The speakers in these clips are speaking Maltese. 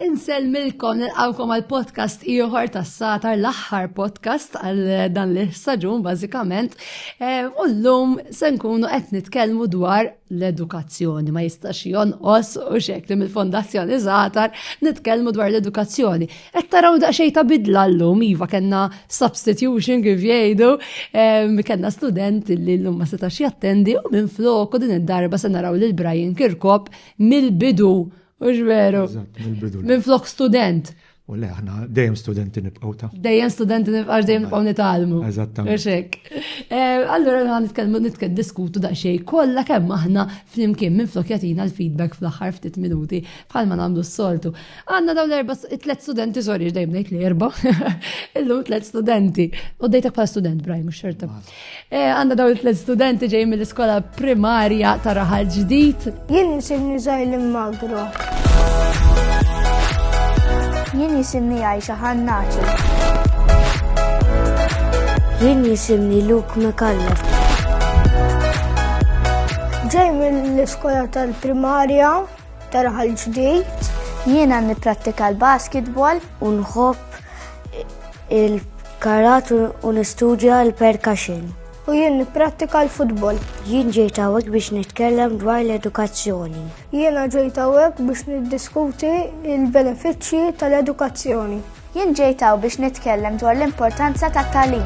Insellmilkom nilqawkom għal podcast ieħor tas-satar l-aħħar podcast għal dan l saġun bażikament. Eh, u llum se nkunu qed nitkellmu dwar l-edukazzjoni ma jistax jonqos u xekli mill-Fondazzjoni Zatar nitkellmu dwar l-edukazzjoni. Qed taraw daqsxejn ta' bidla llum, iva kellna substitution kif jgħidu, kellna student li llum ma setax jattendi u minn flok u din id-darba se naraw lil Brian Kirkop mill-bidu, u veru. Minn flok student. U le, aħna dejjem studenti nibqgħu ta'. Dejjem studenti nibqgħu dejjem nibqgħu nitalmu. Eżattament. Allura għan nitkellmu nitkellmu diskutu daqsxejn kollha kemm aħna flimkien minn flok jatina l-feedback fl-aħħar ftit minuti bħalma nagħmlu s-soltu. Għanna daw l-erba, tlet studenti, sorry, dejjem ngħid li erba. Illum tlet studenti. U dejtek bħala student, Brian, mhux xorta. Eh, għanna daw tlet studenti ġej mill-iskola primarja ta' raħal ġdid. Jien jisimni Zajl Magro. Jien jisimni Aisha Hannaċi. Jien jisimni Luke McCallum. Ġej mill-iskola tal-primarja Terħa l-ġdid, jiena nipprattika l-basketball u nħobb il-karat u nistudja l-percussion. U jien nipprattika l-futbol. Jien ġejt hawnhekk biex nitkellem dwar l-edukazzjoni. Jiena ġejt hawnhekk biex niddiskuti l-benefiċċji tal-edukazzjoni. Jien ġejt hawn biex nitkellem dwar l-importanza tat-tagħlim.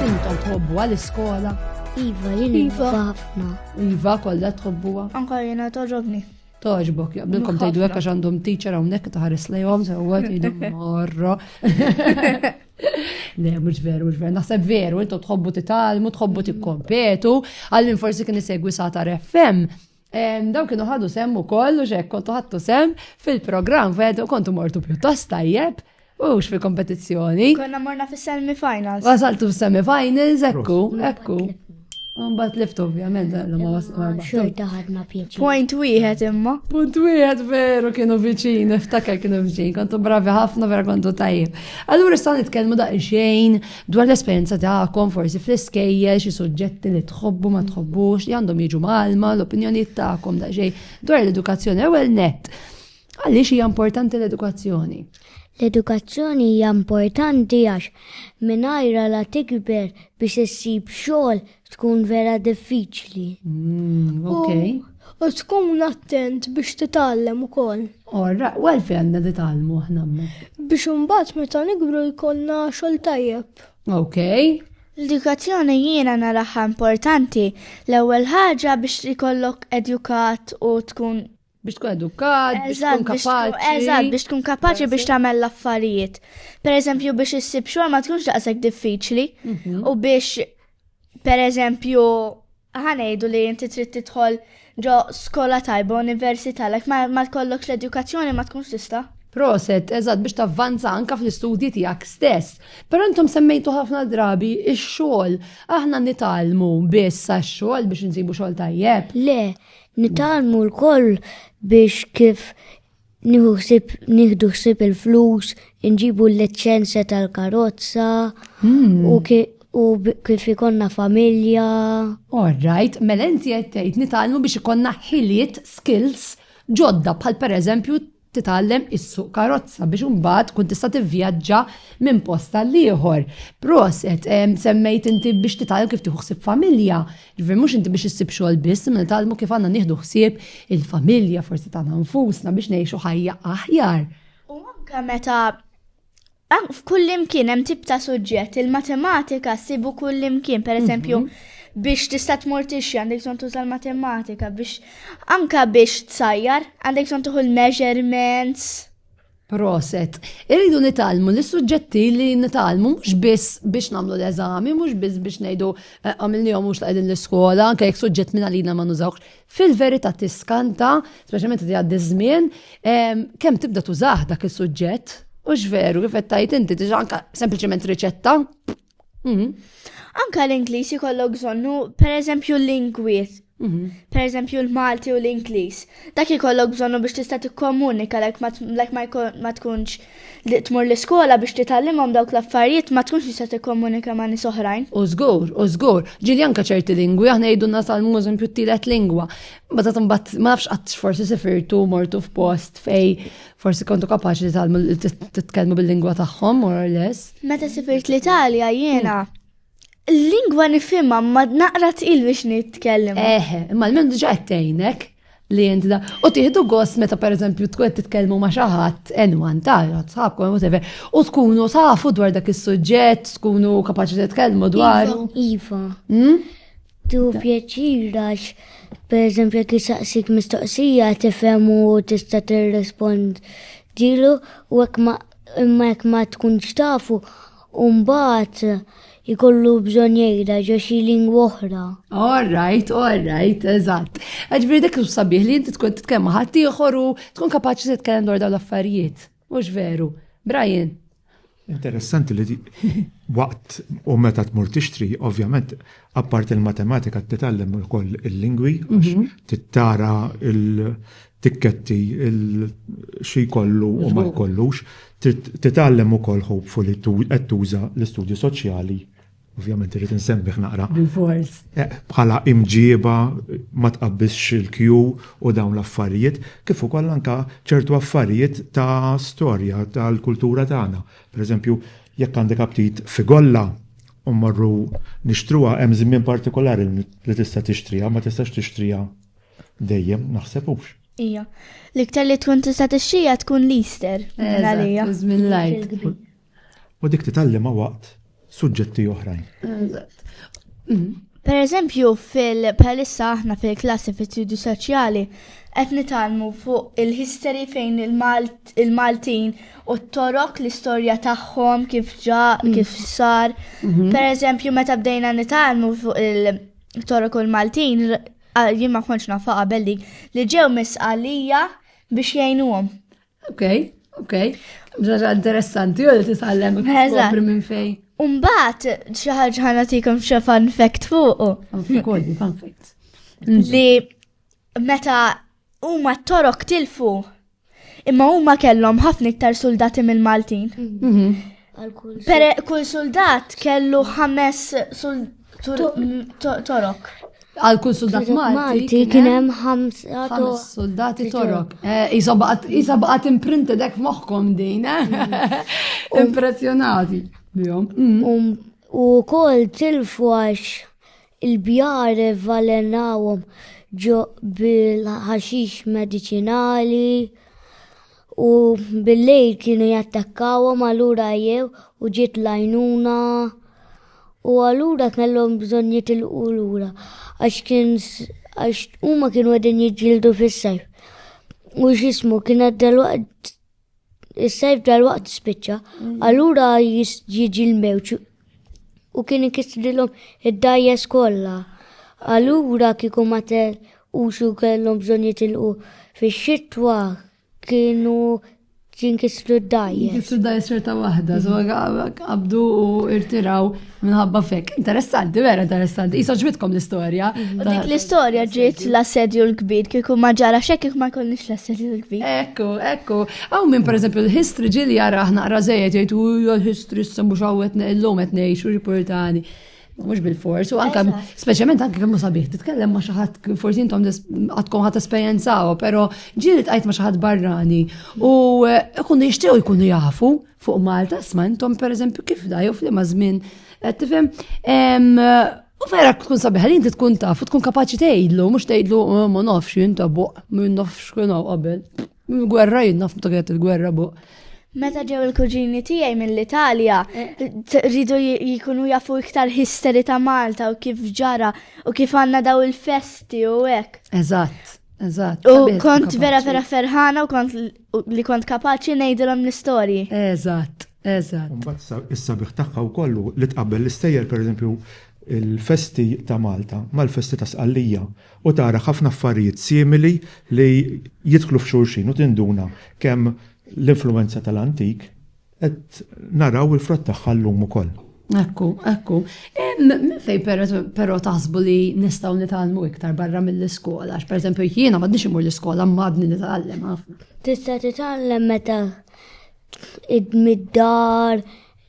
Intom tħobbuha l-iskola? Iva, jien nħobbha ħafna. Iva, kollha tħobbuha. Anka jiena togħġobni. Togħġbok, jaqbilkom tgħidu hekk għax għandhom teacher hawnhekk taħares lejhom sewwa tgħidu morro. Le, mhux veru, mhux veru. Naħseb veru, intom tħobbu titgħallmu, tħobbu tikkompetu. Għallin forsi kien isegwi sa ta' FM Daw kienu ħadu sem u koll u xek kontu ħattu sem fil-program fed u kontu mortu pjuttost tajjeb u x fil-kompetizzjoni. Konna morna fil semifinals Wasaltu fil semifinals ekku, ekku. Unbat lift ovvjament, eh, l-ma Xorta ħadna pieċi. Point wieħed imma. Point wieħed veru kienu viċin, iftakar kienu viċin, kontu bravi ħafna vera kontu tajjeb. Allura issa nitkellmu daqsxejn Dwar l-esperjenza tagħkom, forsi fl-iskejjel, xi suġġetti li tħobbu ma tħobbux, li għandhom jiġu malma, l-opinjonijiet tagħkom da xejn dwar l-edukazzjoni ewwel net. Għaliex hija importanti l-edukazzjoni? L-edukazzjoni hija importanti għax mingħajra la tikber biex issib xogħol Tkun vera diffiċli. Mm, ok. U tkun attent biex titgħallem ukoll. Orra, u għalfejn għandna titgħallmu aħna Biex imbagħad meta nikbru jkollna xogħol tajjeb. Ok. L-edukazzjoni jiena naraha importanti l-ewwel ħaġa biex ikollok edukat u tkun Biex tkun edukat, biex tkun kapaċi. Eżatt, biex tkun kapaċi biex tagħmel l-affarijiet. Per eżempju, biex issib xogħol ma tkunx daqshekk diffiċli mhm. u biex per eżempju ħanejdu li inti trid tidħol ġo skola tajba università lek ma tkollokx l-edukazzjoni ma tkunx tista'. Proset, eżatt biex tavvanza anka fl-istudji tiegħek stess. Però intom semmejtu ħafna drabi ix-xogħol. Aħna nitalmu biss għax-xogħol biex insibu xogħol tajjeb. Le, Nitgħallmu lkoll biex kif nieħu ħsieb nieħdu ħsieb il-flus, inġibu l-liċenzja tal-karozza u kif ikonna familja. All right, mela inti qed tgħid nitgħallmu biex ikonna ħiliet, skills, ġodda bħal pereżempju titgħallem issuq karozza biex imbagħad tkun tista' tivvjaġġa minn post għal ieħor. Proset, semmejt inti biex titgħallem kif tieħu ħsieb familja, ġifieri mhux inti biex issib xogħol biss, imma nitgħallmu kif għandna nieħdu ħsieb il-familja forsi tagħna nfusna biex ngħixu ħajja aħjar. U anke meta F'kullimkien hemm tip ta' suġġett, il-matematika ssibu kullimkien, pereżempju mhm. biex tista' tmur tixxi għandek bżonn tuża l-matematika biex anka biex tsajjar għandek bżonn tuħu l-measurements. Proset. Irridu nitalmu li suġġetti li nitalmu mhux biss biex nagħmlu l-eżami, mhux biss biex ngħidu eh, għamilni jew mhux taqegħdin l-iskola, anke jekk suġġett minn għalina ma nużawx. Fil-verità tiskanta, speċjalment li għaddi żmien, kemm tibda tużah dak is-suġġett, u x'veru kif qed tajt inti diġà anke sempliċement riċetta. Mhm. Anka l-Ingliż ikollok bżonnu, per eżempju l-lingwiet, mhm. per eżempju l-Malti u l-Ingliż. Dak ikollok bżonnu biex tista' tikkomunika lek ma tkunx li tmur l-iskola biex titgħallimhom dawk l-affarijiet ma tkunx tista' tikkomunika ma' nies oħrajn. U żgur, u żgur, ġieli anke ċerti lingwi, aħna jgħidulna salmuż impju t-tielet lingwa. Ma ta' timbat, ma nafx qatt forsi sifirtu mortu f'post fej forsi kontu kapaċi li titkellmu bil-lingwa tagħhom, more or less. Meta sifirt l-Italja jiena, Lingwa nifhimha ma naqra tqil biex nitkellem. Eh, imma l-minn diġà qed tgħinek li inti da. U tieħdu gost meta pereżempju tkun qed titkellmu ma' xi ħadd enwan tara tħabkom whatever u tkunu tafu dwar dak is-suġġett, tkunu kapaċi titkellmu dwar. Iva. Hmm? Tu pjaċir għax pereżempju jekk isaqsik mistoqsija tifhem u tista' tirrispond dilu u hekk ma imma jekk ma tkunx tafu U mbagħad ikollu bżonn jgħidha ġo xi lingwa oħra. All right, all right, eżatt. Ġifieri dik sabiħ li inti tkun titkellem ma' ħadd ieħor u tkun kapaċi titkellem dwar dawn l-affarijiet. Mhux veru. Brian. Interessanti li waqt u meta tmur tixtri, ovvjament, apparti il-matematika titgħallem ukoll il-lingwi, mhm. tittara tikketti xi jkollu u ma jkollux, titgħallem ukoll hopefully qed tuża l-istudju soċjali, ovvjament irrid insemmih naqra. Bil-fors. Bħala imġiba ma tqabbisx il-kju u dawn l-affarijiet, kif ukoll anke ċertu affarijiet ta' storja tal-kultura tagħna. Pereżempju, jekk għandek aptit fi golla u mmorru nixtruha hemm żmien partikolari li tista' tixtriha, ma tistax tixtriha Dejjem naħseb hux. Ija. L-iktar li tkun tista' tixxija tkun l-Easter. Għalija. Żmien l-għid. U dik titgħallimha waqt suġġetti oħrajn. Eżatt. Mm. Per eżempju, fil-palissa aħna fil-klassi fil-studju soċjali, qed nitalmu fuq il-history fejn il-Maltin u t-torok l-istorja tagħhom kif ġa, mm. kif sar. Mhm. Per eżempju, meta bdejna nitalmu fuq il-torok u l-Maltin, Ah, jien ma kontx nafa qabel dik li ġew misqalija biex jgħinuhom. Ok, ok. Ġaġa interessanti, u li titgħallem kopri minn fej. Umbat, xaħġ ħana tikum xie fun fact fuq. Fun fact. Li meta Huma t-Torok tilfu. Imma huma kellhom ħafna iktar suldati mill-Maltin. Mhm. Per kull soldat kellu ħames Torok. Għal kull soldat Malti kien hemm ħamsa soldati Torok. Eh, isa baqgħet imprinted hekk moħħkom din, eh? mhm. Impressjonati bihom. Mhm. Um, u kol tilfu għax Il-bjar ivvalenawhom ġo bil-ħaxix mediċinali u bil-lejl kienu jattakkawhom allura jew u ġiet lajnuna u allura kellhom bżonn jitilqu lura għax kien għax huma kienu qegħdin jiġġieldu fis-sajf. U x'ismu kienet dalwaqt Is-sajf dal-waqt spiċċa, mm. allura jiġi l-mewġ u kien inkisrilhom id-dajjes kollha. Allura kieku ma u xu kellhom bżonn jitilqu fix-xitwa kienu jinkisru d-dajjes. Jinkisru d-dajjes xorta waħda, so għabdu u irtiraw Minħabba fek, interessanti, vera interessanti. Isa ġbitkom l-istoria. Mhm. U dik l-istoria ġiet l-assedju l-kbir, kiku ma ġara xek ma konniex l-assedju l-kbir. Ekku, ekku. Għaw minn per eżempju l-history ġili jara ħna rażejet jgħid u l-history s mhux hawnhekk illum qed ngħix u riportani. Mux bil-fors, u anka, specialment anka kemmu sabiħ, titkellem ma xaħat, forsi intom għatkom ħat esperienzaw, pero ġili tqajt ma xaħat barrani, u eh, kunu jishtiqu jkunu jafu, Fuq Malta, sma intom per eżempju kif da, jew fl-imma żmien, qed tifhem. U vera tkun sabiħa li inti tkun taf u tkun kapaċi tgħidlu, mhux tgħidlu oh, ma nafx inta buq, ma nafx kien qabel. Gwerra jien naf meta il-gwerra buq. Meta ġew il-kuġini tiegħi mill-Italja, eh. rridu jikunu jafu iktar histeri ta' Malta u kif ġara u kif għandna daw il-festi u hekk. Eżatt. Eżatt. U kont vera vera ferħana u kont U li kont kapaċi ngħidilhom l-istorji. Eżatt, eżatt. Mbagħad is-sabiħ tagħha wkoll hu li tqabbel l-istejjer pereżempju l-festi ta' Malta mal-festi ta' Sqallija u tara ħafna affarijiet simili li jidħlu f'xulxin u tinduna kemm l-influwenza tal-antik Qed naraw il-frott tagħha llum ukoll. Ekku, ekku. Minn fejn però taħsbu li nistgħu nitgħallmu iktar barra mill-iskola? Għax pereżempju jiena m'għadniex imur l-iskola m'għadni nitgħallem ħafna. Tista' titgħallem meta mid-dar,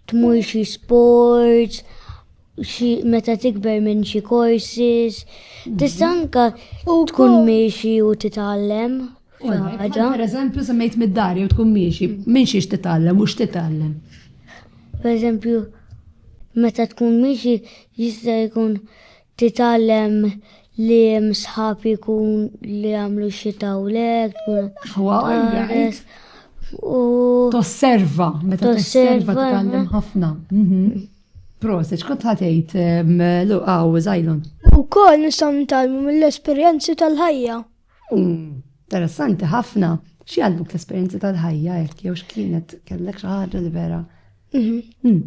tmur xi sports, xi meta tikber minn xi courses, tista' anka tkun miexi u titgħallem. Ħaġa. Per eżempju, semmejt mid-dar jew tkun miexi, minn xiex titgħallem u x'titgħallem. Per eżempju, meta tkun miexi jista' jkun titgħallem li msħab jkun li għamlu xi tawlek, tkun. Tosserva, meta tosserva titgħallem ħafna. Mhm. Proset, xkont ħatejt luqaw zaħilon? U kol nisam nitalmu mill-esperienzi tal-ħajja. Interessanti ħafna. Xi għallmuk l-esperjenzi tal-ħajja hekk jew x'kienet kellek xi ħaġa li vera. Mhm. Hmm.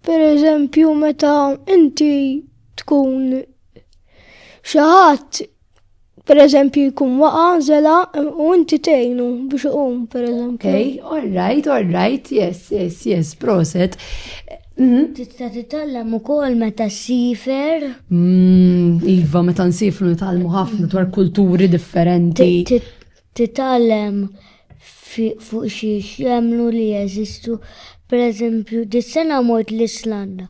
Per eżempju meta inti tkun xi ħadd per eżempju jkun waqa zela u inti tgħinu biex iqum per eżempju. Okay, all right, all right, yes, yes, yes, proset. Mhm. Tista' titgħallem ukoll meta ssifer. Mm, iva, meta nsifru nitgħallmu ħafna dwar kulturi differenti. Titgħallem fuq xi jagħmlu li jeżistu. Per eżempju, dis-sena mort l-Islanda.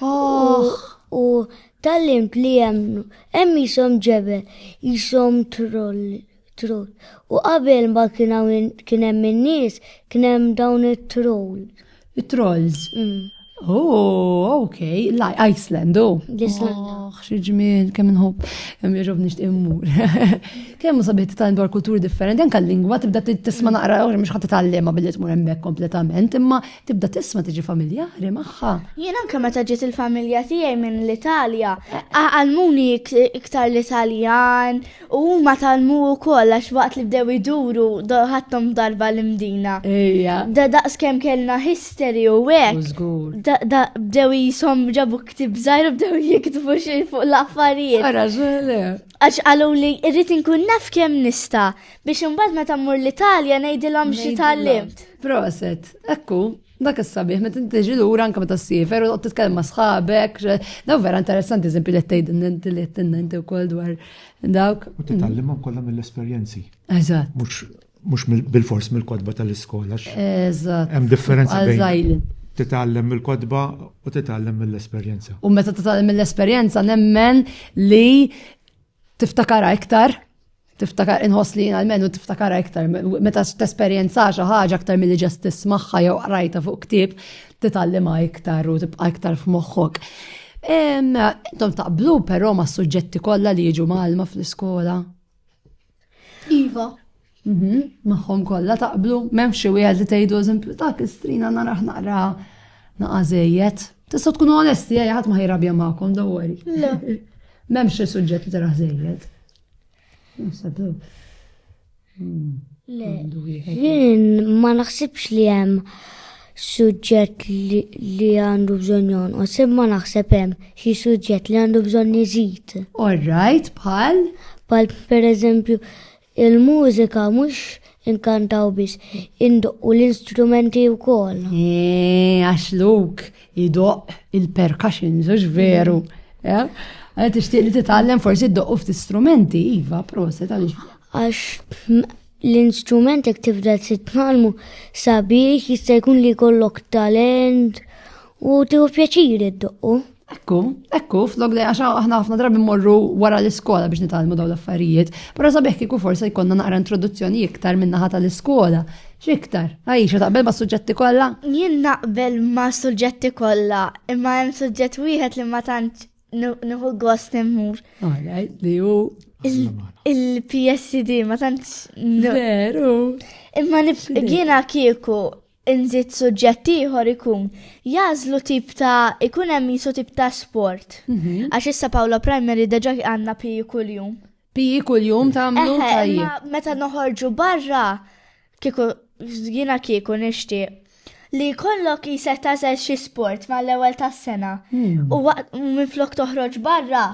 Oh. U tal-limt li jemnu, hemm jisom ġebel, jisom trolli. Troll. U qabel ma kien hawn kien hemm in-nies, kien hemm dawn it-troll. It-trolls. Mm. Oh, ok, like Iceland, oh. Iceland. Oh, xieġmin, kemm nħobb, jirrob nisht immur. Kemm sabiħ tal dwar kulturi differenti, anka l-lingwa tibda tisma mm. naqra, mux ħat tallima billi tmur emmek kompletament, imma tibda tisma tiġi familjari maħħa. Jien anka meta ġiet il-familja tiegħi minn l-Italja, għalmuni iktar l-Italjan, U huma talmu wkoll għax waqt li bdew iduru ħadthom darba l-imdina. Ejja. Da daqs kemm kellna history u hekk. Żgur. Da bdew jisom ġabu ktib żgħir u bdew jiktbu xi fuq l-affarijiet. Ara żgħir. Għax qalu li rrid inkun naf kemm nista' biex imbagħad meta mmur l-Italja ngħidilhom xi tallimt. Proset, ekku. Dak is-sabiħ, meta tiġi lura anke meta ssifer u titkellem ma' sħabek, daw vera interessanti eżempju li tgħid inti li tgħid ukoll dwar dawk. U titgħallimhom kollha mill-esperjenzi. Eżatt. Mhux bil-fors mill-kodba tal-iskola. Eżatt. Hemm differenza bejn titgħallem mill-kodba u titgħallem mill-esperjenza. U meta titgħallem mill-esperjenza nemmen li tiftakara iktar tiftakar inħoss li jina l-menu tiftakar iktar, meta t-esperienza xi ħaġa aktar mill-li ġest tismaħħa jew qrajta fuq ktib, titallima iktar u tibqa iktar f'moħħok. Intom taqblu però ma' suġġetti kollha li jiġu malma fl-iskola. Iva. Mhm, Maħħom kollha taqblu, m'hemm xi wieħed li tgħidu eżempju ta' kistrina naraħ naqra naqa' żejjed. Tista' tkun onesti, ħadd ma ħajrabja magħkom, dawwari. Le. M'hemm xi suġġett li taraħ żejjed. Le, jien ma naħsibx li hemm suġġett li għandu bżonn jonqos, imma naħseb hemm xi suġġett li għandu bżonn iżid. All right, bħal? Bħal pereżempju il-mużika mhux inkantaw biss, indoqqu l-instrumenti wkoll. Eh, għax luk, Idoq il-percussions, ux veru. Eh? Għal tixtieq li titgħallem forsi d doqqu ftit strumenti, iva, proset għaliex. Għax l-instrumenti jekk tibda titgħallmu sabiex jista' jkun li jkollok talent u tieħu pjaċir id-doqqu. Ekku, ekku, flok li għaxa aħna ħafna drabi morru wara l-iskola biex nitalmu daw l-affarijiet, pero sabiħ kiku forsa jkonna naqra introduzzjoni iktar minna ħata l-iskola X'iktar? Għajxa taqbel ma' suġġetti kollha? Jien naqbel ma' suġġetti kollha, imma hemm suġġett wieħed li ma tant nieħu gost immur. Alright, li hu il-PSD ma tant. Veru. Imma jiena kieku inżid suġġett ieħor ikun jażlu tip ta' ikun hemm jisu tip ta' sport. Mhm. Għax issa Pawla Primary deġa għandna pi kuljum. Piji kuljum tagħmlu tajjeb. Meta noħorġu barra kieku jiena kieku nixtieq li kollok jisek tażel xi sport mal-ewwel tas-sena hmm. u minn flok toħroġ barra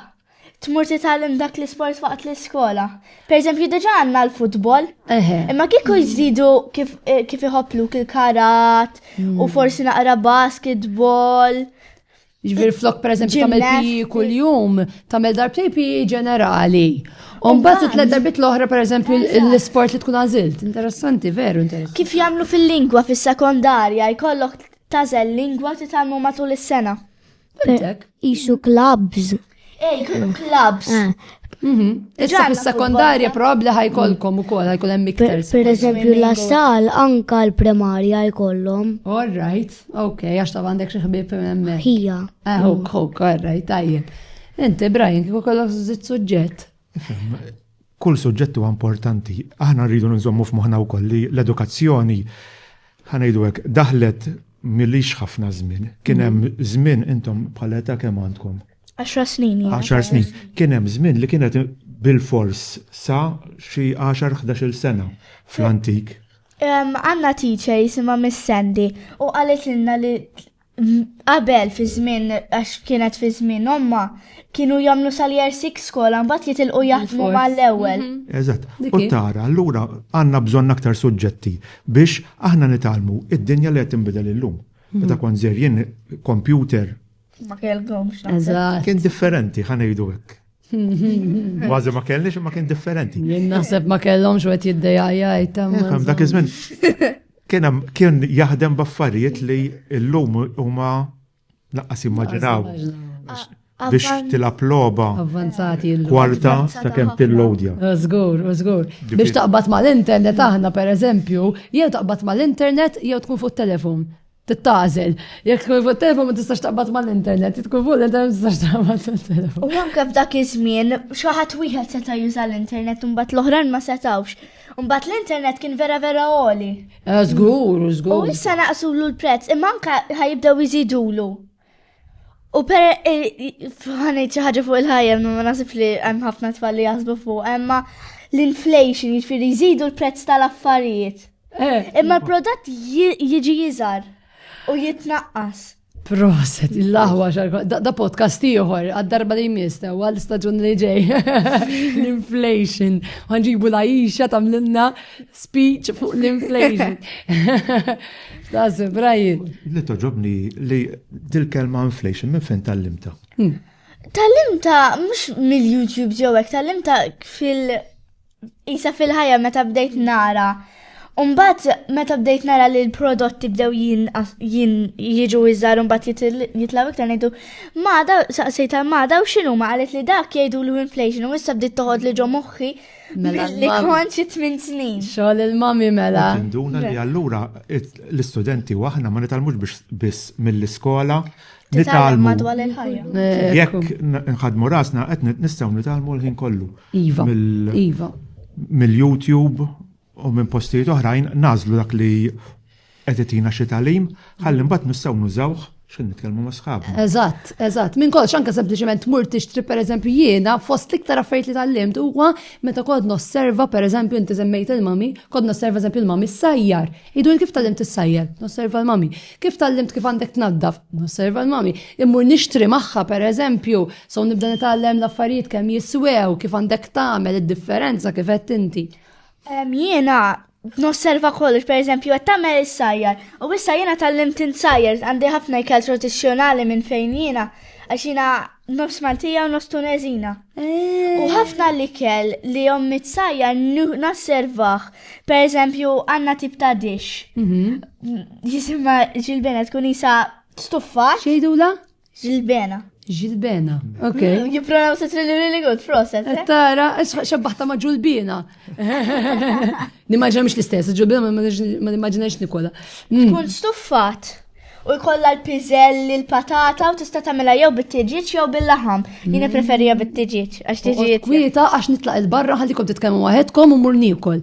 tmur titgħallem dak l-isport waqt l-iskola. Per eżempju, diġa għandna l-futbol. Imma kieku jżidu kif eh, iħobblu kil-karat u hmm. forsi naqra basketball. Ġvir flok per eżempju tamel pi kull-jum, tamel darbtej pi ġenerali. Umbat it-tlet darbit l-oħra per eżempju l-sport li tkun għazilt. Interessanti, veru interessanti. Kif jamlu fil-lingwa fil-sekondarja, jkollok tazel lingwa titalmu matul is-sena. Isu klabs. Ej, kienu klabs. Eh. Mhm. Issa fis-sekondarja probabbli ħajkolkom ukoll ħajkun hemm iktar. Per eżempju la sal anka l-primarja jkollhom. All right, ok, għax ta' għandek xi ħbieb hemm. Ħija. Ah, ok, ok, all right, tajjeb. Inti Brian kieku kollok żitt suġġett. Kull suġġett huwa importanti. Aħna rridu nżommu f'moħħna wkoll li l-edukazzjoni, ħa ngħidu hekk, daħlet milix ħafna żmien. Kien mhm. hemm żmien intom bħala età kemm għandkom? 10 snin. 10 snin. Kien hemm żmien li kienet bil-fors sa xi 10-11 sena fl-antik. Għanna teacher jisima Miss Sandy u għalet l-inna li Qabel fi żmien għax kienet fi żmien omma kienu jagħmlu sal-year 6 skola mbagħad jitilqu jaħdmu mal-ewwel. Mhm. Eżatt. U tara, allura għandna bżonn aktar suġġetti biex aħna nitalmu id-dinja li qed tinbidel illum. Mhm. Meta kont żerjien kompjuter. Ma kellhomx. Eżatt. Kien differenti ħanejdu hekk. Għazi ma kellix ma kien differenti. Jien naħseb ma kellhom xwet jiddejja jtam. Dak iż-żmien kien jaħdem baffarijiet li l-lum huma laqqas immaġinaw biex tilab loba avvanzati kwarta ta' kemm tillodja. Żgur, żgur. Biex taqbad mal-internet aħna pereżempju, jew taqbad mal-internet jew tkun fuq telefon. titgħażel. Jekk tkun fuq telefon ma tistax taqbad mal-internet, tkun fuq l-internet ma tistax taqbad mal-telefon. U anke f'dak iż-żmien xi ħadd wieħed seta' juża l-internet u mbagħad l-oħrajn ma setawx. Mbagħad l-internet kien vera vera għoli. Eh, żgur, żgur. U issa naqsulu l-prezz, imma anke ħajibdew iżidulu. U per fħanet xi ħaġa fuq il-ħajja ma nasib li hemm ħafna tfal li jaħsbu fuq imma l-inflation jiġifieri jżidu l-prezz tal-affarijiet. Eh. Imma l-prodott jiġi jiżar u jitnaqqas. Proset, il-laħwa xarka, da podcast ieħor, għad-darba li jmiss, eh, għal staġun li ġej, l-inflation, għanġibu la jisha tamlinna speech fuq l-inflation. Lazio, Brian. Li toġobni li dil-kelma inflation minn fejn tal-limta. Hmm. Tal-limta mhux mill-YouTube ġew hekk, tal-limta fil- isa fil-ħajja meta bdejt nara. Umbat meta bdejt nara li l-prodotti bdew jien jiġu iżar umbat jitlaw iktar ngħidu mada saqsejt tal-mada u x'inhuma qalet li dak jgħidu l-inflation u issa bdiet toħod li ġo moħħi Mela li konċi 8 snin. Xogħol il-mami mela. Tinduna li allura l-istudenti u aħna ma nitalmux biex biss mill-iskola. Nitalmu madwar il-ħajja. Eh, Jekk nħadmu rasna qed nistgħu nitalmu l-ħin kollu. Iva. Iva. Mill-YouTube, u minn postijiet oħrajn nażlu dak li qed itina xi tagħlim, ħalli mbagħad nistgħu nużawh xejn nitkellmu ma' sħab. Eżatt, eżatt. Minn kollox anke sempliċement mur tixtri pereżempju jiena fost l-iktar affarijiet li tallimt huwa meta kod nosserva pereżempju inti żemmejt il-mami, kod nosserva eżempju il-mami sajjar. Idu kif tallimt is-sajjar, nosserva l-mami. Kif tallimt kif għandek tnaddaf, nosserva l-mami. Immur nixtri magħha pereżempju, so nibda nitgħallem l-affarijiet kemm jiswew, kif għandek tagħmel id-differenza kif qed inti. Jiena nosserva kollox, per eżempju, għat tamel il-sajjar. U issa jiena tal-lim tinsajjar, għandi ħafna ikel tradizjonali minn fejn jiena, għax jiena nofs Maltija u nofs Tunezina. U ħafna li kell li jom mitsajja nasservaħ, per eżempju, għanna tip ta' dix. Jisimma ġilbena tkun jisa stuffa. Xejdula? Ġilbena. Ġilbena, ok. Mm, Jipronaw se li really good, proset. Eh? Tara, xabbaħta ma ġulbina. Nimmaġina mux l-istess, ġulbina ma nimmaġinax Nikola. Mm. Tkun stuffat u jkollha l-piżelli, l-patata u tista' tagħmilha jew bit-tiġiġ jew bil-laħam. Jiena mm. preferija bit-tiġiġ għax tiġiġ. Kwieta għax nitlaq il-barra ħallikom titkellmu waħedkom u mur nikol.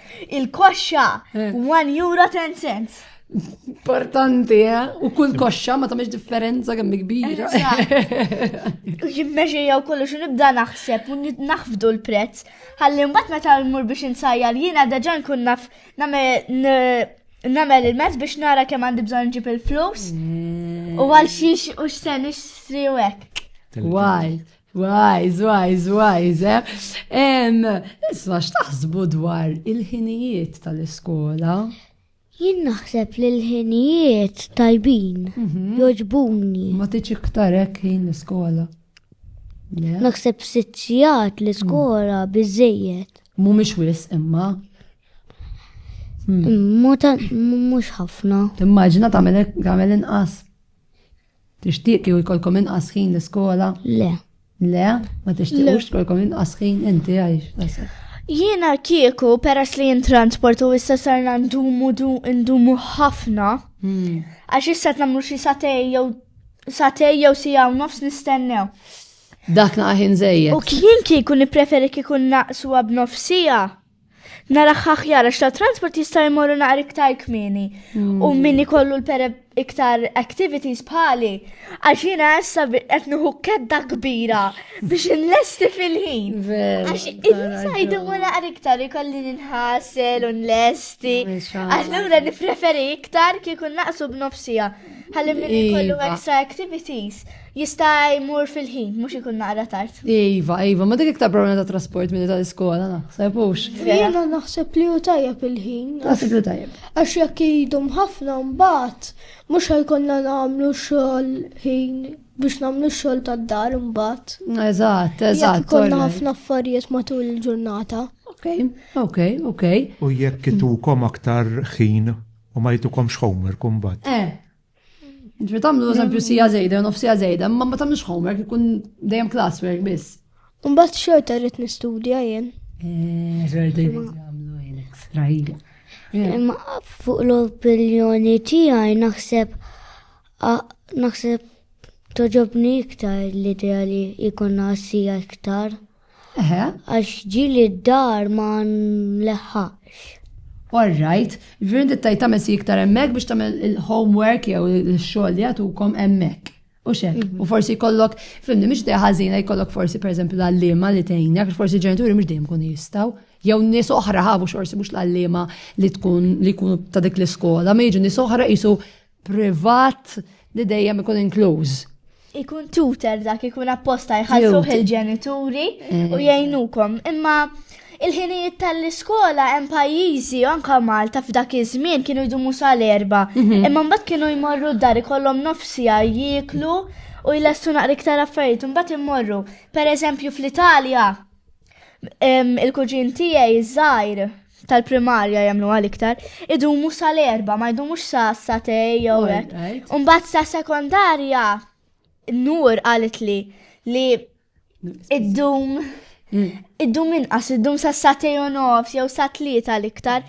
Il-koxxa, 1 euro 10 cents. Importanti, eh? U kull koxxa ma tamiex differenza kemm kbira. Jimmeġi jew kollu xi nibda naħseb u naħfdu l-prezz. Ħalli mbagħad meta mmur biex insajjar jiena deġa nkun naf nagħmel il-mezz biex nara kemm għandi bżonn ġib il-flus. Mm. U għal xiex u x'sen ixtri u hekk. Why? Wajz, wajz, wajz, eh? Isma x'taħsbu dwar il-ħinijiet tal-iskola? Jien naħseb li l-ħinijiet tajbin, mhm. joġbuni. Ma tiġ iktar hekk ħin l-iskola. Naħseb sittijat l-iskola mm. biżejjed. Mhumiex wis imma. Mm. Mhux ħafna. Timmaġina tagħmel inqas. Tixtieq kieku jkollkom inqas ħin l-iskola? Le. Le? Ma tixtiequx tkollkom inqas ħin inti għajx? Jiena kieku peress li jintransport u issa sarna ndumu ndumu ħafna. Hmm. Għax issa tnamlu xi satej jew satej jew sija u nofs nistennew. Dak naqaħin zejjed. U kien kieku nipreferi kieku naqsu għab nofsija. Naraħ aħjar għax ta' transport jista' jmorru naqar iktar kmieni. U mm. min ikollu l-pere iktar activities bħali, għax jina issa qed nuħu kedda kbira biex inlesti fil-ħin. Għax il-nisa jdu naqar iktar ikolli nħasel u nlesti. Allura nifreferi iktar kieku naqsu b'nofsija. Ħalli min ikollu iva. extra activities. Jista' jmur fil-ħin, mhux ikun naqra tard. Iva, iva, ma dik iktar problema ta' trasport milli tal-iskola naħseb hux. Jiena naħseb li hu tajjeb il-ħin. Naħseb li tajjeb. Għax jekk idum ħafna mbagħad mhux ħajkonna nagħmlu xogħol ħin biex nagħmlu xogħol tad-dar imbagħad. Eżatt, eżatt. Jekk konna ħafna affarijiet matul il-ġurnata. Ok, ok, ok. U jekk itukom aktar ħin u ma jitukomx homework imbagħad. Eh, Ġvi tamlu eżempju sija zejda, nof sija zejda, ma ma tamlux homework, ikun dejjem classwork biss. Umbat xorta rrit nistudja jen. Eh, Rrit għamlu jen ekstra jen. Imma fuq l-opinjoni tijaj naħseb naħseb toġobni iktar l-idea li jikonna sija iktar. Eħe. Għax ġieli d-dar ma nleħħaqx. All right. Ġifieri inti tgħid tagħmel si iktar hemmhekk biex tagħmel il-homework jew ix-xogħol li jagħtukom hemmhekk. U xek, mhm. u forsi jkollok, fimni, mhix dejja ħażina jkollok forsi pereżempju l-għalliema li tgħinja, għax forsi ġenituri mhux dejjem kun jistgħu. Jew nies oħra ħabu xorsi mhux l-għalliema li tkun li jkunu ta' dik l-iskola, ma jiġu nies oħra qisu privat li dejjem ikun inkluż. Ikun tutor dak ikun apposta jħallsu il-ġenituri eh. u jgħinukom. Imma il-ħinijiet tal-iskola hemm pajjiżi anka Malta f'dak iż-żmien kienu jdumu sal-erba. Mhm. Imma mbagħad kienu jmorru d-dar ikollhom nofsija jieklu u jlestu naqra iktar affarijiet mbagħad immorru. Pereżempju fl-Italja il-kuġin tiegħi żgħir tal-primarja jagħmlu għal iktar, idumu sal-erba, ma jdumux sa satej jew hekk. Umbagħad sa sekondarja nur qalet li li iddum mm. iddum inqas iddum sa satej u nofs jew sa tlieta l-iktar.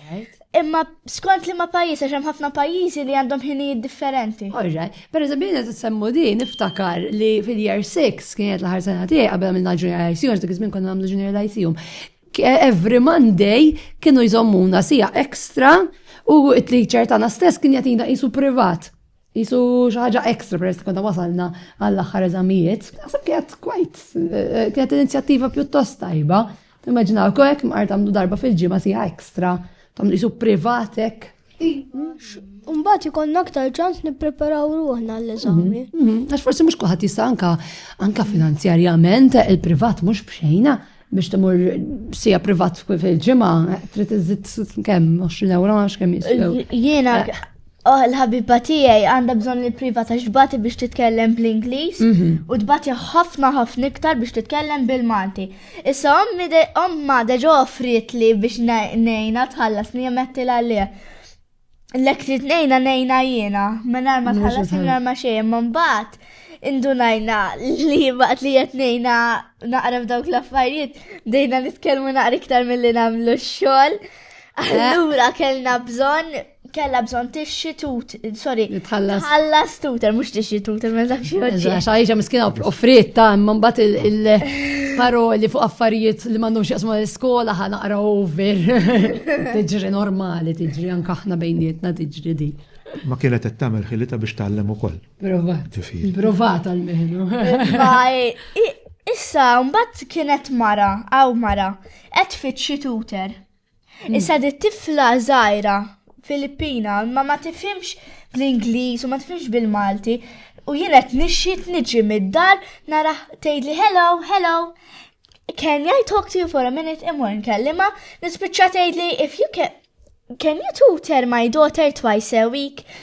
Imma skont li ma pajjiż għax hemm ħafna pajjiżi li għandhom ħinijiet differenti. Orra, per eżempju qed tissemmu din niftakar li fil-year 6 kienet l-aħħar sena tiegħi qabel għamilna junior ICU, dak iż-żmien konna nagħmlu junior ICU. Every Monday kienu jżommuna sija ekstra u t-teacher tagħna stess kien jagħtina qisu privat. Jisu xaħġa ekstra peress li konna wasalna għall-aħħar eżamijiet. Għasab kienet kwajt, eh, kienet inizjattiva pjuttost tajba. Immaġinaw, kojek mqar tamlu darba fil-ġimgħa sija ekstra, tamlu qisu privatek. Mbagħad ikollna aktar ċans nippreparaw ruħna għall-eżami. Mhm, mhm. Għax forsi mhux kulħadd jista' anka anka finanzjarjament il-privat mhux b'xejna biex timur sija privat fil-ġimgħa trid iżid kemm 20 euro għax kemm jiswew. Jiena eh. Oh, l-ħabiba tiegħi għandha bżonn li privat għax bati biex titkellem bl-Ingliż mhm. u tbati ħafna ħafna iktar biex titkellem bil-Malti. Issa ommi de omma deġa offrietli biex nejna tħallas li jemetti l-għalli. Lek li tnejna nejna jiena, minar ma tħallas minar ma xejn, man bat indunajna li waqt li qed ngħidna naqra f'dawk l-affarijiet dejna nitkellmu naqra iktar milli nagħmlu x-xogħol. Eh. Allura kellna bżonn kella bżon tixxi tut, sorry, tħallas tuter, mux tixxi tuter, ma dak xie għodġi. Xaħġa miskina offriet ta' imman bat il-paroli fuq affarijiet li mandum xieqsmu l-skola ħana qra over. Tiġri normali, tiġri anka ħna bejnietna tiġri di. Ma kienet qed tagħmel ħilita biex tgħallem ukoll. Provat. Provat għal meħnu. Issa, mbagħad kienet mara, għaw mara, qed fitxi tuter. Issa di tifla żgħira Filippina ma ma tifhimx bl-Ingliż u ma tifhimx bil-Malti u jien qed nixxiet niġi mid-dar nara tgħidli hello, hello. Can I talk to you for a minute imur nkellima? Nispiċċa tgħidli if you can can you tutor my daughter twice a week?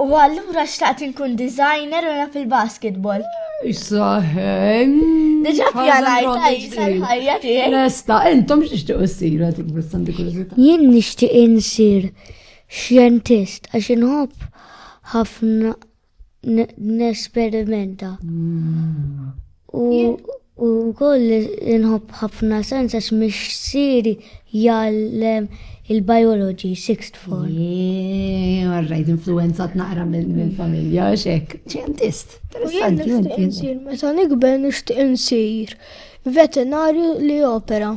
U allura xtaqt inkun designer u naf il-basketball. Issa, Diġa pjanajt għajsa l-ħajja tiegħek. Lesta, intom x'tixtiequ ssir għad il-Sandi Kurzita? Jien nixtieq insir xjentist għax inħobb ħafna nesperimenta. U wkoll inħobb ħafna sens għax mixsieri jgħallem il-biology sixth form. Għarrajt influenzat naqra minn familja xek. Ċentist, interessanti. Meta nikber nixtieq insir veterinarju li opera.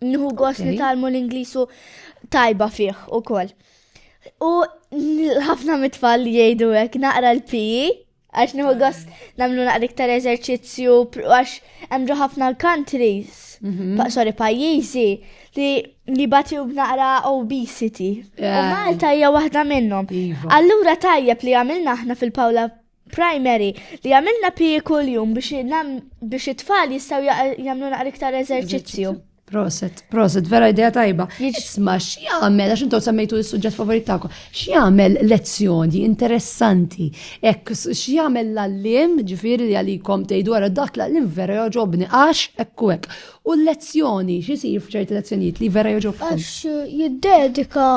Nħu gost nitalmu l-Inglisu tajba fih u koll. U ħafna mitfall jgħidu hekk naqra l-piji, għax nħu gost namlu naqra iktar eżerċizzju, għax għamġu ħafna countries, mhm. sorry, pajjiżi li li batiju b'naqra obesity. U Malta hija waħda minnhom. Iva. Allura tajjeb li għamilna aħna fil-Pawla primary li għamilna pije kuljum biex it-tfal jistaw jagħmlu naqra iktar eżerċizzju. Proset, proset, vera idea tajba. Jisma, x'jagħmel, għax intom semmejtu s-suġġett favorit tagħkom, x'jagħmel lezzjoni interessanti, hekk x'jagħmel l-allim, ġifieri li għalikom tgħidu wara dak l-allim vera joġobni għax hekk u hekk. U l-lezzjoni, x'isir f'ċerti lezzjonijiet li vera joġobkom? Għax jiddedika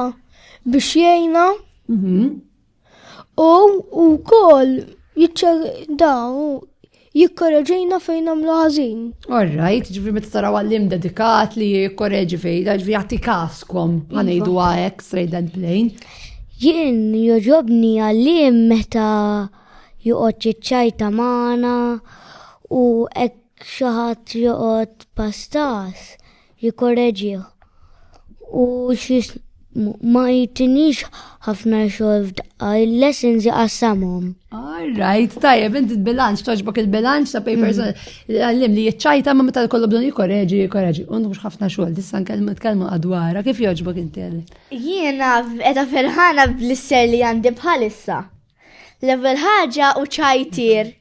biex jgħinna mhm. U wkoll daw jikkoreġejna fejn għamlu ħażin. Orrajt, ġifri meta taraw għallim dedikat li jikkoreġi fejn, ġifri jagħti kaskom ħanejdu iva. għajek straight and plain. Jien joġobni għallim meta joqgħod jiċċajta magħna u hekk xi ħadd joqgħod pastas jikorreġih u xis ma jitinix ħafna xogħol f'daqqa, il-lessons jaqassamhom. All right, tajjeb, inti bilanċ toġbok il-bilanċ ta' papers mm. għallim li jiċċajta ma meta kollu bdun jikorreġi, jikorreġi, u mhux ħafna xogħol, tista' nkellmu tkellmu għadwara, kif joġbok inti Jiena qiegħda ferħana bl-isser li għandi bħalissa. Level ħaġa u ċajtir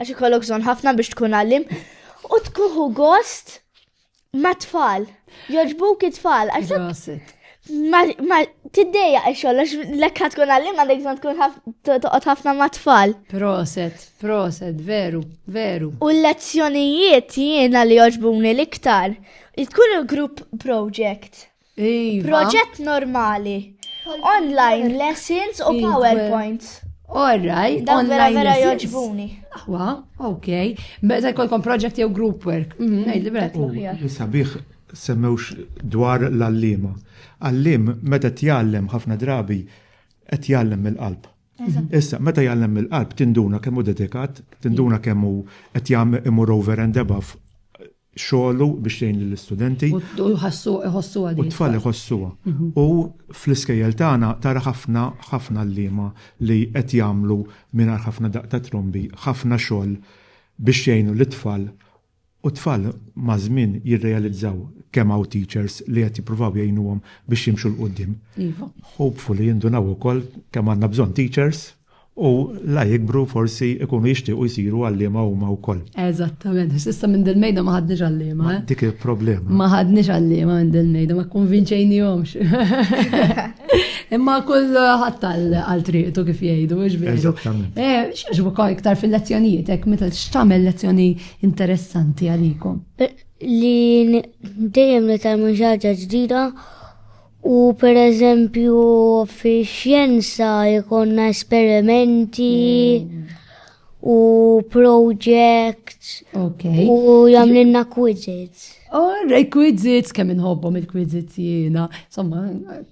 Għax ikollok bżonn ħafna biex tkun għallim u tkuħu gost ma' tfal. Joġbuk it-tfal. Għax ma tiddeja xogħol għax lekka tkun għallim għandek bżonn tkun toqgħod ħafna ma' tfal. Proset, proset, veru, veru. U l-lezzjonijiet jiena li joġbuni l-iktar. Tkun il-group project. Iva. Proġett normali. Online lessons u iva. PowerPoints. All right. Dan vera vera joġbuni. Aħwa, ok. Beza jkollkom project jew group work. Mhm, Nejli vera. Sabiħ semmewx dwar l-allima. Allim meta tjallem ħafna drabi qed jallem mill-qalb. Issa, meta jallem mill-qalb tinduna kemm hu dedikat, tinduna kemm hu qed jagħmel imur over and above xogħlu biex jgħin lill-istudenti. U jħossuha din. U t-tfal iħossuha. U fl-iskejjel tagħna tara ħafna ħafna għalliema li qed jagħmlu mingħajr ħafna daqq ta' trombi ħafna xogħol biex jgħinu lit-tfal u t-tfal maż-żmien jirrealizzaw kemm hawn teachers li qed jippruvaw jgħinuhom biex jimxu 'l quddiem. Iva. Hopefully jindunaw ukoll kemm għandna bżonn teachers u la jikbru forsi jkunu jixtiequ jsiru għalliema huma wkoll. Eżattament, għax s'issa minn dil-mejda ma ħadniex għalliema. Eh? Dik il-problema. Ma ħadniex għalliema minn dil-mejda, ma kkonvinċejnihomx. Imma kull ħadd għal triqtu kif jgħidu, mhux veru. Eżattament. Eh, x'għaġbu iktar fil-lezzjonijiet hekk meta x'tagħmel lezzjoni interessanti għalikom. Eh, li dejjem nitalmu ħaġa ġdida U pereżempju fix-xjenza jkollna esperimenti u projects okay. u jagħmlilna quizzes. Oh, rej quizzes, kemm inħobbhom il-quizzes jiena. Somma,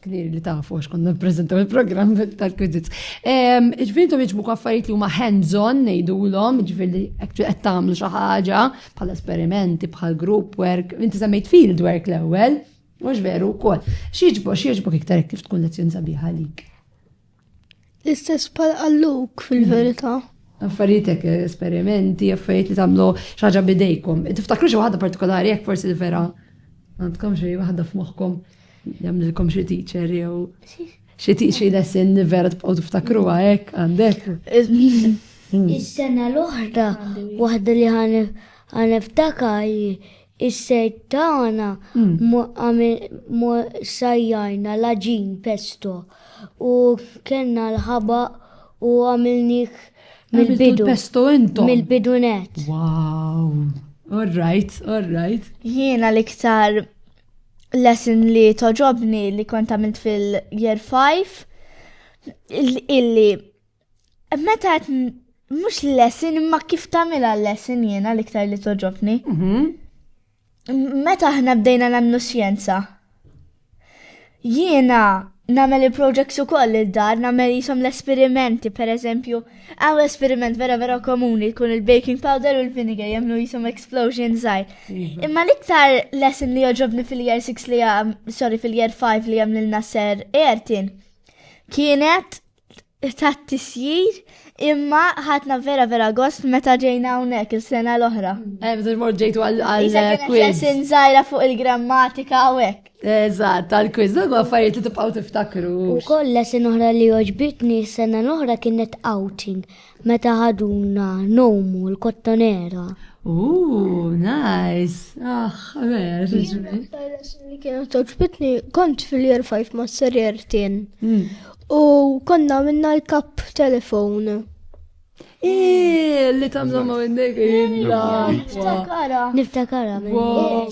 klir li tafu għax konna nippreżentaw il-programm tal-quizzes. Ġifieri intom jiġbu affarijiet li huma hands-on ngħidulhom, ġifieri qed tagħmlu xi ħaġa bħal esperimenti, bħal group work, inti semmejt field work l-ewwel. Mhux veru wkoll. X'jiġbok x'jiġbok iktar hekk kif tkun lezzjoni sabiħa għalik. L-istess pal għalluk fil-verità. Affarietek, esperimenti, affarijiet li tagħmlu xaġa bidejkom. Tiftakru xi waħda partikolari jekk forsi li vera għandkom xi waħda f'moħħkom jagħmlilkom xi teacher jew xi teacher lesson li vera tibqgħu tiftakru hekk għandek. Is-sena l-oħra waħda li ħanef ħaneftakar Is-sejd tagħna sajjarna l-għaġin pesto u kellna l-ħabaq u għamilnieh mill-bidu. Pesto intom. Mill-bidu net. Wow. All right, all right. Jiena l-iktar lesson li toġobni li kont għamilt fil-year 5 illi Meta mhux lesson imma kif tagħmilha lesson jiena l-iktar li toġobni. Mhm. Meta aħna bdejna nagħmlu xjenza. Jiena nagħmel il-projects ukoll il-dar, nagħmel jisom l-esperimenti, per eżempju, għaw esperiment vera vera komuni jkun il-baking powder u l-vinegar jagħmlu jisom explosion żgħir. Iva. Imma l-iktar lesson li joġobni fil-year 6 li għam, sorry, fil-year 5 li għam l-nasser Ertin, kienet ta' tisjir imma ħatna vera vera gost meta ġejna hawnhekk il-sena l-oħra. Eh, meta mort ġejtu għal-quiz. Sin żgħira fuq il-grammatika u hekk. Eżatt, għal-quiz, dak affarijiet li tibqgħu tiftakru. Ukoll lesin oħra li oġbitni s-sena l-oħra kienet outing. Meta ħaduna nomu l-kottonera. Ooh, nice! Ah, vera, ġiġmi. Li kienu toġbitni, kont fil-year 5 ma' serjer tin. Hmm. U konna minna l-kap telefon. Eee, li tamlu ma' minnek illa. Niftakara. Niftakara.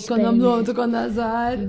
Konna mlontu, konna zaħar.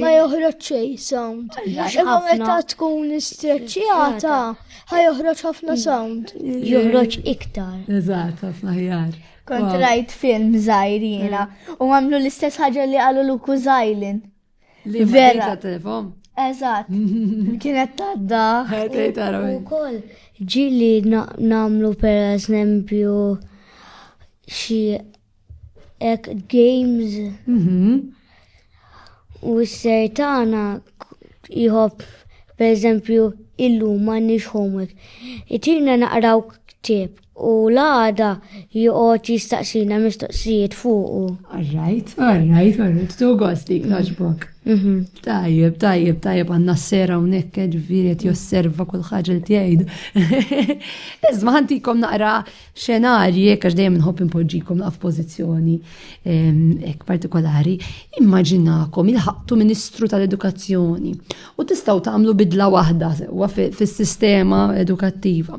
Ma joħroġ xej sound. Imma meta tkun istreċċjata, ħa joħroġ ħafna sound. Joħroġ iktar. Eżatt, ħafna ħjar. Kont rajt film zaħir jena mm. u għamlu l-istess ħagġa li għallu l-uku zaħilin. Li vera. telefon. Eżat. Kienet tadda. U kol, ġili namlu per eżempju xie Ek games. Mhm. U s-ser tagħna jħobb per eżempju illum m'għandniex homework. Itina naqraw ktib u l-għada joqgħod jistaqsina mistoqsijiet fuqu. Alright, alright, alright, tu gost dik taġbok. Mhm. Tajjeb, tajjeb, tajjeb għandna s-sera hawnhekk ġifieri qed josserva kull ħaġa li tgħid. Iżma ħantikom naqra xenarji, jekk għax dejjem nħobb inpoġġikom naqaf pożizzjoni ehm, hekk partikolari, immaġinakom il-ħaqtu Ministru tal-Edukazzjoni u tistgħu tagħmlu bidla waħda sewwa fis-sistema edukattiva.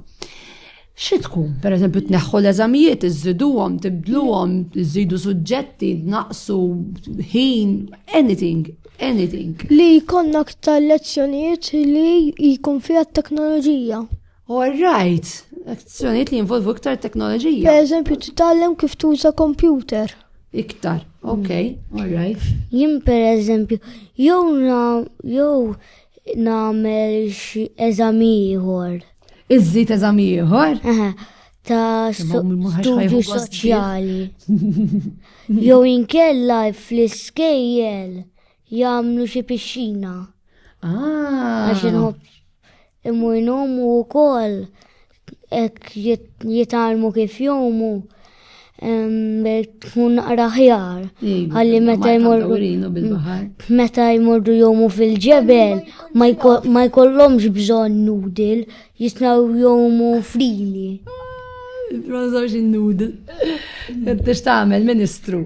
Xi tkun, pereżempju tneħħu l-eżamijiet, iżiduhom, tibdluhom, iżidu suġġetti, naqsu ħin, anything, anything. Li jkollna aktar lezzjonijiet li jkun fiha t-teknoloġija. All right, azzjonijiet li jinvolvu iktar teknoloġija. Per eżempju, titgħallem kif tuża kompjuter. Iktar, ok, mm. all right. Jien per eżempju, jew na, jew nagħmel xi eżami ieħor. Iżżid eżami ieħor? ta' studju soċjali. Jew inkella fl-iskejjel Jagħmlu xi pixxina. Ah. Għax inħobb imur nomu wkoll hekk jitalmu kif jomu tkun naqra ħjar. Għalli meta jmorru. Mm, meta jmorru jomu fil-ġebel, ma jkollhomx bżonn nudil, jisnaw jomu frili. Ma nżawx il-nudil. Tix tagħmel ministru.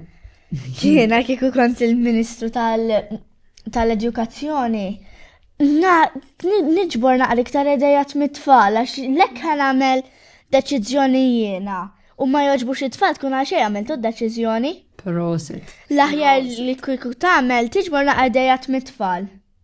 Jiena kieku kont il-Ministru tal-Edukazzjoni, na niġbor naqra iktar idejat mit-tfal għax lekk ħan għamel deċiżjoni jiena u ma joġbux it-tfal tkun għal xejn għamiltu d-deċiżjoni. Prosit. L-aħjar li kieku tagħmel tiġbor naqra idejat mit-tfal.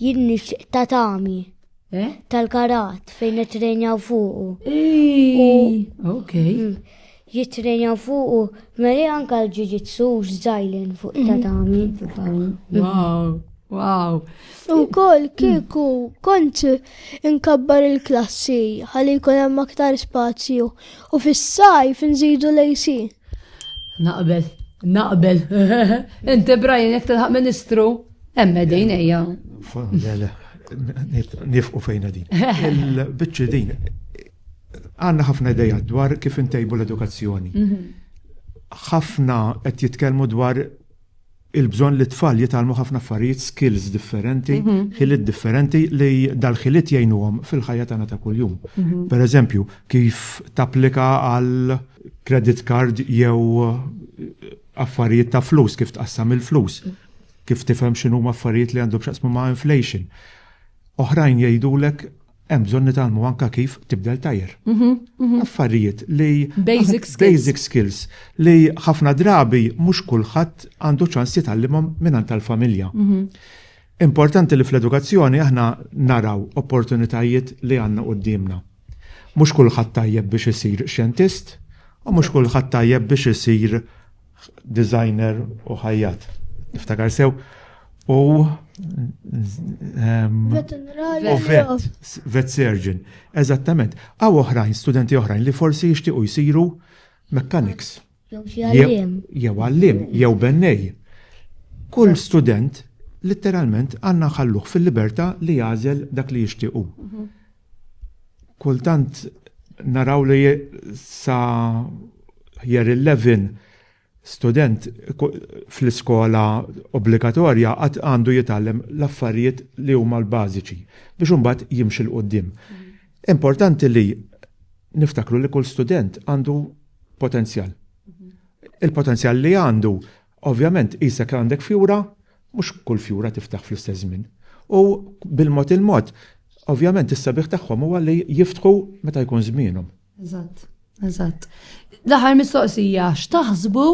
Jien nixtieq tatami. Eh? Tal-karat fejn nitrenjaw fuqu. Ok. Mm. Jitrenjaw fuqu, meli anka l-ġiġitsu x'żajlen fuq mhm. tatami. Mhm. Wow, wow. U kol kieku kont inkabbar il-klassi ħalli jkun hemm aktar spazju u fis-sajf nżidu lejsi. Naqbel, naqbel. Inti Brian jekk tilħaq ministru Emme din ejja. Nifqu fejna din. Il-bicċi din, għanna ħafna ideja dwar kif intejbu l-edukazzjoni. Mhm. ħafna qed jitkellmu dwar il-bżon li tfal jitalmu ħafna affarijiet skills differenti, mhm. ħiliet differenti li dal-ħiliet jgħinuhom fil-ħajja tagħna ta' kuljum. Mhm. Per eżempju, kif tapplika għal credit card jew Affarijiet ta' flus, kif tqassam il-flus, kif tifhem x'inhuma affarijiet li għandhom x'jaqsmu ma' inflation. Oħrajn jgħidulek hemm bżonn nitgħallmu anke kif tibdel tajr. Mhm, mhm. Affarijiet li basic skills. Basic skills li ħafna drabi mhux kulħadd għandu ċans jitgħallimhom minn tal-familja. Mhm. Importanti li fl-edukazzjoni aħna naraw opportunitajiet li għandna qudiemna. Mhux kulħadd tajjeb biex isir xjentist u mhux kulħadd tajjeb biex isir designer u ħajjat. Niftakar sew. U vet surgeon. Eżattament. Għaw oħrajn, studenti oħrajn li forsi jixtiequ jsiru mechanics. Jew xi għalliem. Jew għalliem, jew bennej. Kull student litteralment għanna ħalluħ fil-libertà li jażel dak li jixtiequ. Mhm. Kultant naraw li sa jer il-levin student fl-iskola obbligatorja għad għandu jitgħallem l-affarijiet li huma l-bażiċi biex imbagħad jimxi l-qoddim. Mhm. Importanti li niftakru li kull student għandu potenzjal. Mhm. Il-potenzjal li għandu, ovvjament, jisek għandek fjura, mux kull fjura tiftaħ fl-istess żmien. U bil-mod il-mod, ovvjament, is-sabiħ tagħhom huwa li jiftħu meta jkun żmienhom. Eżatt, eżatt. L-aħħar mistoqsija, x'taħsbu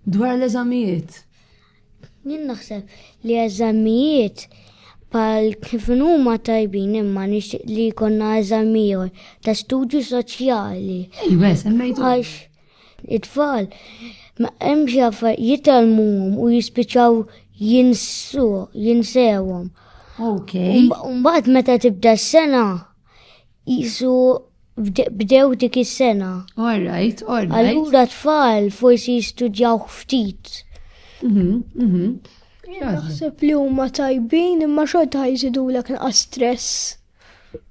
dwar l-eżamijiet? Jien naħseb li eżamijiet pal kif huma tajbin imma nixtieq li jkollna eżamijiet ta' studju soċjali. Iwa, semmejtu. Għax it-tfal hemm xi affarijiet jitalmuhom u jispiċċaw jinsu, jinsewhom. Okay. Mbagħad meta tibda s-sena Isu bdew dik is-sena. All right, all right. Allura tfal forsi jistudjaw ftit. Mhm, mhm. Naħseb li huma tajbin imma xorta ħajżidu l nqas stress.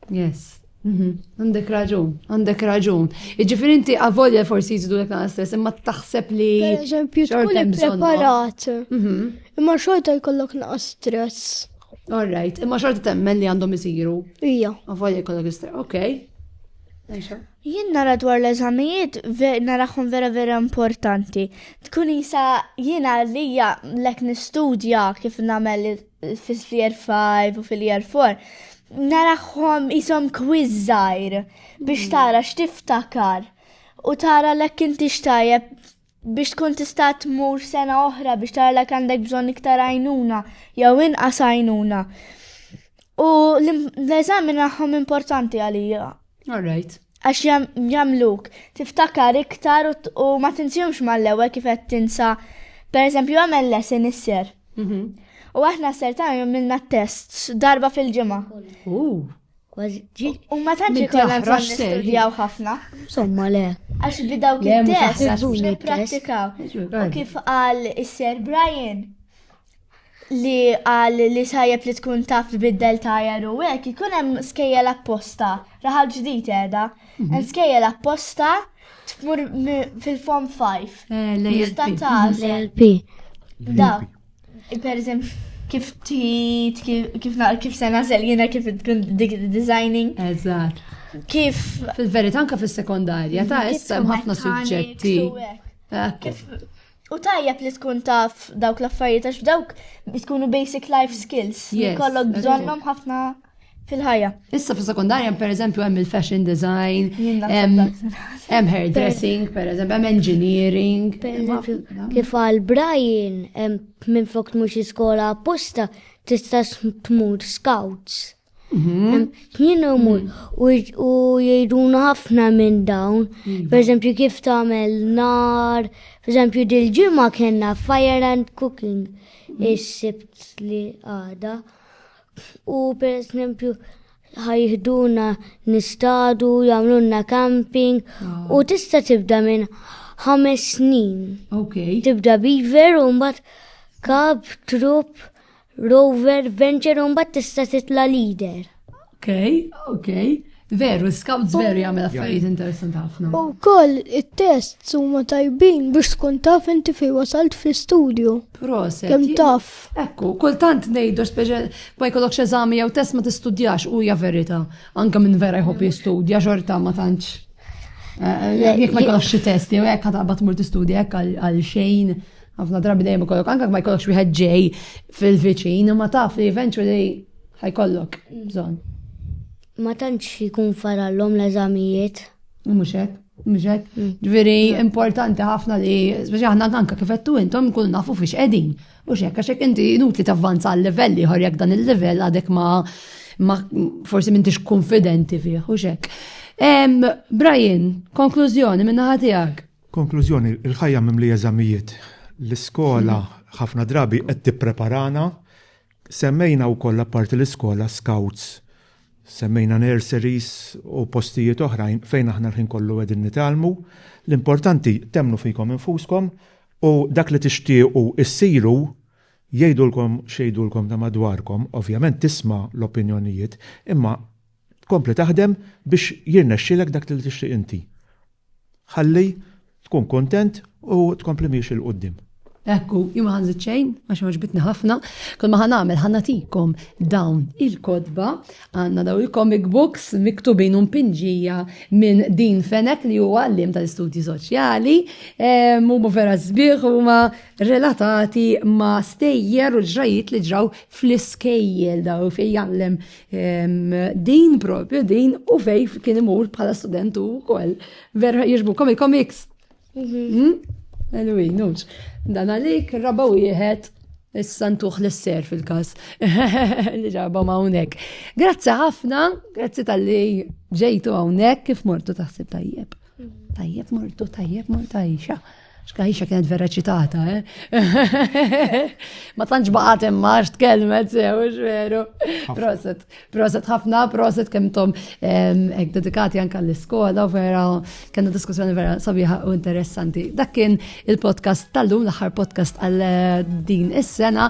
Yes. Mhm. Għandek raġun, għandek raġun. Iġifiri inti għavolja forsi jizdu l nqas stress, imma taħseb li. Per eżempju, tkun preparat. Mhm. Imma xorta jkollok naqas stress. All right, imma xorta temmen li għandhom isiru. Ija. Għavolja jkollok istra, ok. Jien nara dwar l-eżamijiet naraħħom vera vera importanti. Tkun jisa jien għalija lek nistudja kif namel fil-year 5 u fil-year 4. Naraħħom jisom kwizzajr biex mm. tara xtiftakar u tara lek inti xtajab biex tkun tista' tmur sena oħra biex tara lek għandek bżonn iktar għajnuna jew inqas għajnuna. U l-eżami naħħom importanti għalija. All right. Għax jamluk, tiftakar iktar u ma tinsjumx mal-lewe kif qed tinsa. Per eżempju, għamel lesson isser. Mhm. U aħna s-ser ta' jom minna tests darba fil-ġimgħa. Kważi. U ma tantx ikollna bżonn nistudjaw ħafna. Somma le. Għax bi dawk il-test għax nipprattikaw. U kif qal is-Sir Brian li qal li sajjeb li tkun taf tbiddel tajer u hekk ikun hemm skejjel apposta. Raħal ġdid qiegħda. Mhm. Hemm skejjel apposta tmur fil-form 5. Eh, L-ALP. L-ALP. Dak. Per eżempju, kif tit, kif naqra kif se nażel jiena kif tkun dik designing. Eżatt. Kif. Fil-verità anke fis-sekondarja ta' issa hemm ħafna suġġetti. U tajjeb li tkun taf dawk l-affarijiet għax dawk tkunu basic life skills. Kollok bżonnhom ħafna. fil-ħajja. Issa fil sekundarja per eżempju hemm il-fashion design, hemm hairdressing, per eżempju hemm engineering. Kif għal Brian minn fuq mhux iskola apposta tista' tmur scouts. Mhm. Jien umur mhm. u jgħiduna ħafna minn dawn, mhm. per eżempju kif tagħmel nar, per eżempju dil-ġimgħa kellna fire and cooking is-sibt li għada. U per esempio ħajħduna nistadu, jamlunna camping ah. u tista' tibda minn ħames snin. Okay. Tibda beaver u mbagħad kab, trup, rover, venture u mbagħad tista' titla leader. Okay, okay. Veru, scouts veru jagħmel affarijiet interessanti ħafna. U koll it-tests huma tajbin biex tkun taf inti fi wasalt fi studio. Proset. Kem taf. Ekku, kultant ngħidu speċjal ma jkollokx eżami jew test ma tistudjax u hija verita. Anke minn vera jħobb jistudja xorta ma tantx. Eh, eh, jekk ma jkollokx xi test jew hekk ħatabad tmur tistudja hekk għal xejn ħafna drabi dejjem ikollok anke ma jkollokx wieħed ġej fil-viċin ma taf li eventually ħajkollok bżonn. Ma tantx jkun farallhom l-eżamijiet. Mhux hekk, mhux hekk. Mm. Ġifieri importanti ħafna li speċi aħna anke kif qed intom nkunu nafu fiex qegħdin. U x'hekk għax hekk inti inutli tavvanza għal livell ieħor jekk dan il-livell għadek ma ma forsi m'intix konfidenti fih u x'hekk. Brian, konklużjoni minna ħatijak. Konklużjoni, il-ħajja mimli eżamijiet. L-iskola ħafna drabi qed tippreparana Semmejna wkoll apparti l-iskola, scouts, semmejna nurseries u postijiet oħrajn fejn aħna l-ħin kollu qegħdin nitgħallmu. L-importanti temmnu fikom infuskom u dak li tixtiequ issiru jgħidulkom x'jgħidulkom ta' madwarkom, ovvjament tisma' l-opinjonijiet, imma tkompli taħdem biex jirnexxilek dak li tixtieq inti. Ħalli tkun kuntent u tkompli miexi 'l quddiem. Ekku, jien ma ħanżid xejn, għax għaġbitni ħafna, kull ma ħanamel ħanatikom dawn il-kodba, għandna dawn il-comic books miktubin un pinġija minn din fenek li huwa għallim tal-istudji soċjali, huma vera sbieħ huma relatati ma' stejjer u ġrajiet li ġraw fl-iskejjel daw fejn jgħallem Din propju, din u fej kien imur bħala student u kol. Vera jirġbu komi komiks. Mhm. Hmm? Anyway, nux. Dan għalik, rabba wieħed Is-santuħ l-ser fil-kas. Li ġabom għawnek. Grazzi ħafna, grazzi tal-li ġejtu għawnek kif mortu taħsib tajjeb. Mhm. Tajjeb mortu, tajjeb mortu għajxa. Xkaħixa kienet vera ċitata, eh? Ma tantx baqat imma x'tkellmet sew, veru. Proset, proset ħafna, proset kemm tom hekk dedikati anke l-iskola u vera kellna diskussjoni vera sabiħa u interessanti. Dak kien il-podcast tal-lum, l-aħħar podcast għal din is-sena.